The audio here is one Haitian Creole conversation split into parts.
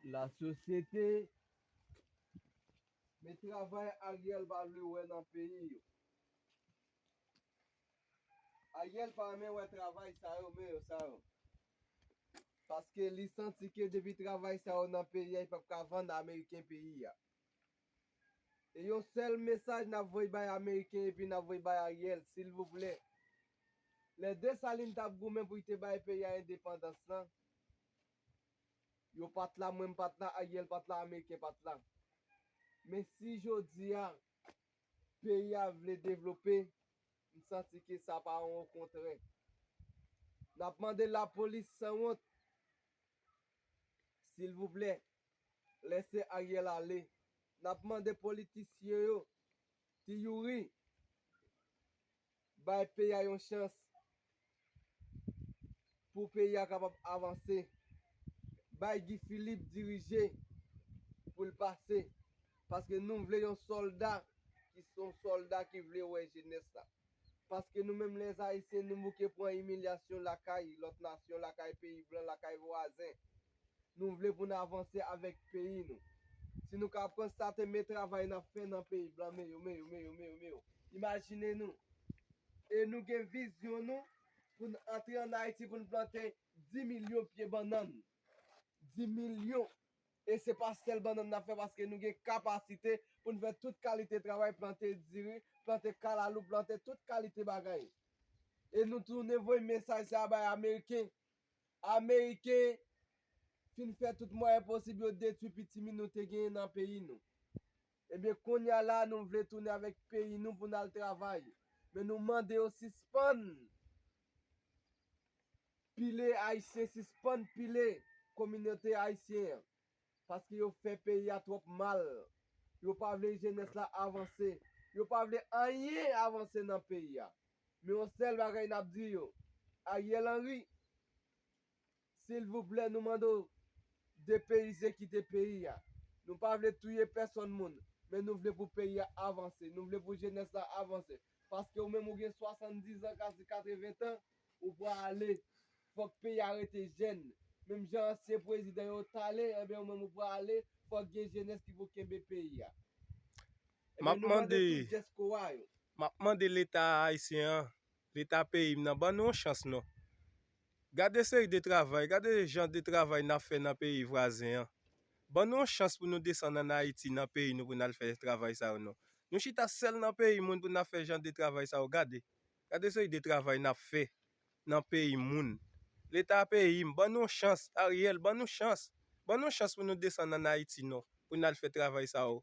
La sosyete Men travay Ariel pa vle wè nan peyi yo. Ariel pa renmen wè travay sa yo men yo sa yo. Paske li santi ke depi travay sa yo nan peyi a li pap ka vann ameriken peyi a. E yon sèl mesaj nap voy bay ameriken epi nap voy bay Ariel silvouplè lè Dessalines tap goumen pou li te bay peyi a endepandans lan yo pat la mwen m pat la Ariel pat la ameriken pat la men si jodi a peyi a vle devlope m santi ke sa pa yon okontrè nap mande lapolis sanwont silvouplè. lèse Ariel ale nap mande politisyen yo ti youri bay peyi a yon chans pou peyi a kapab avanse bay Guy Philippe dirije pou l pase paske nou vle yon solda ki son solda ki vle wè jenès la paske nou menm les ayisyen nou bouke pran imilyasyon lakay lòt nasyon lakay peyi blan lakay vwazen Nou vle pou n avanse avèk peyi nou. Si nou ka konstate men travay n ap fè nan peyi blan meyou meyou meyou meyou meyou imajine nou. E nou gen vizyon nou pou n antre an Ayiti pou n plante 10 milyon pye bannann. 10 milyon! E se pa sèl bannann n ap fè paske nou gen kapasite pou n fè tout kalite travay, plante diri, plante kalalou, plante tout kalite bagay. E nou tounen voye mesaj sa a bay ameriken Ameriken fin fè tout mwayen posib yo detwi pitimi nou te genyen nan peyi nou. Ebyen kounya la nou vle tounen avèk peyi nou pou n al travay. Men nou mande yo sispann pile Ayisyen, sispann pile kominote Ayisyen an. Paske yo fè peyi a twòp mal. Yo pa vle jenès la avanse. Yo pa vle anyen avanse nan peyi a. Men yon sèl bagay n ap di yo, Ariel Henry, silvouplè nou mande w depeyize kite peyi a. Nou pa vle touye pèsòn moun, men nou vle pou peyi a avanse. Nou vle pou jenès la avanse. Paske ou menm ou gen 70 an, kase 80 tan. Ou pran ale. Fok peyi a rete jèn. Menm jan ansyen prezidan yo tale enben ou menm ou pran ale. Fok gen jenès ki pou kenbe peyi a. Enben nou mande tout diaspora yo. Map mande leta ayisyen an, leta peyi m nan ban nou yon chans non. Gade seri de travay, gade jan de travay nap fè nan peyi vwazen an. Ban nou yon chans pou nou desann an Ayiti nan peyi nou pou nal fè travay sa yo non. Nou chita sèl nan peyi moun pou nap fè jan de travay sa yo gade. Gade seri de travay nap fè nan peyi moun. Leta peyim ban nou yon chans Ariel ban nou chans ban nou chans pou nou desann an Ayiti non pou n al fè travay sa yo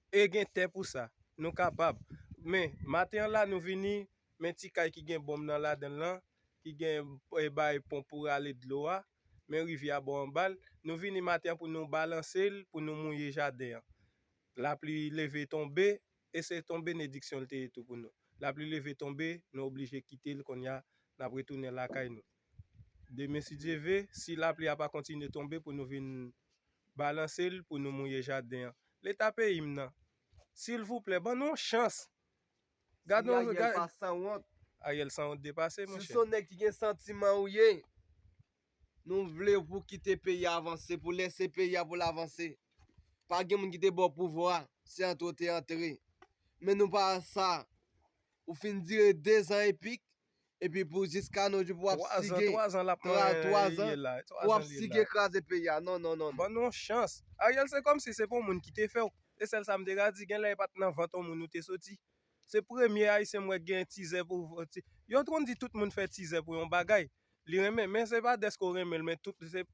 e gen tè pou sa nou kapab men maten an la nou vini men ti kay ki gen bonm nan ladan l lan ki gen bay ponp pou rale dlo a men rivyè a bò anba l nou vini maten an pou nou balanse l pou nou mouye jaden an lapli leve tonbe E se ton benediksyon l te ye tou pou nou. Lapli leve tonbe, nou oblije kite l kounye a, n ap retounen lakay nou. Demen si Dye ve, si lapli a pa kontinye tonbe pou nou vin balanse l pou nou mouye jaden an. Leta peyi m nan! Silvouplè, ban nou yon chans! Gad yon. Si Ariel pa sanwont. Ariel sanwont depase monchè. Si w s on nèg ki gen santiman ou ye. Nou vle pou kite peyi a avanse pou lese peyi a pou l avanse pa gen moun ki te baw pouvwa se antre w te antre men nou pa sa ou fin dire 2 zan epik epi pou jiska nou jou pou wap sige 3 zan pou wap sige kraze peyi a non non non ban nou yon chans Ariel se komsi se pa yon moun ki te fèw se sèl sa m te ka di gen lè e pat nan vant yon moun ou te soti se premye ayisyen m wè ki gen tizè pou yon t konn di tout moun fè tizè pou yon bagay Li renmen men se pa deske w renmen l men tout se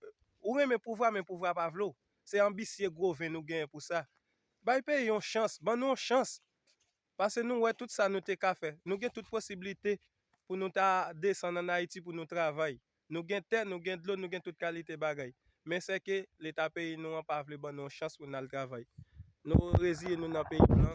ou renmen pouvwa men pouvwa pa vle w se anbisye gwo ven nou genyen pou sa bay peyi yon chans ban nou yon chans pase nou wè tout sa nou te ka fè nou gen tout posiblite pou nou ta desann an ayiti pou nou travay nou gen tè nou gen dlo nou gen tout kalite bagay men se ke leta peyi nou an pa vle ban nou yon chans pou n al travay nou reziye nou nan peyi blan.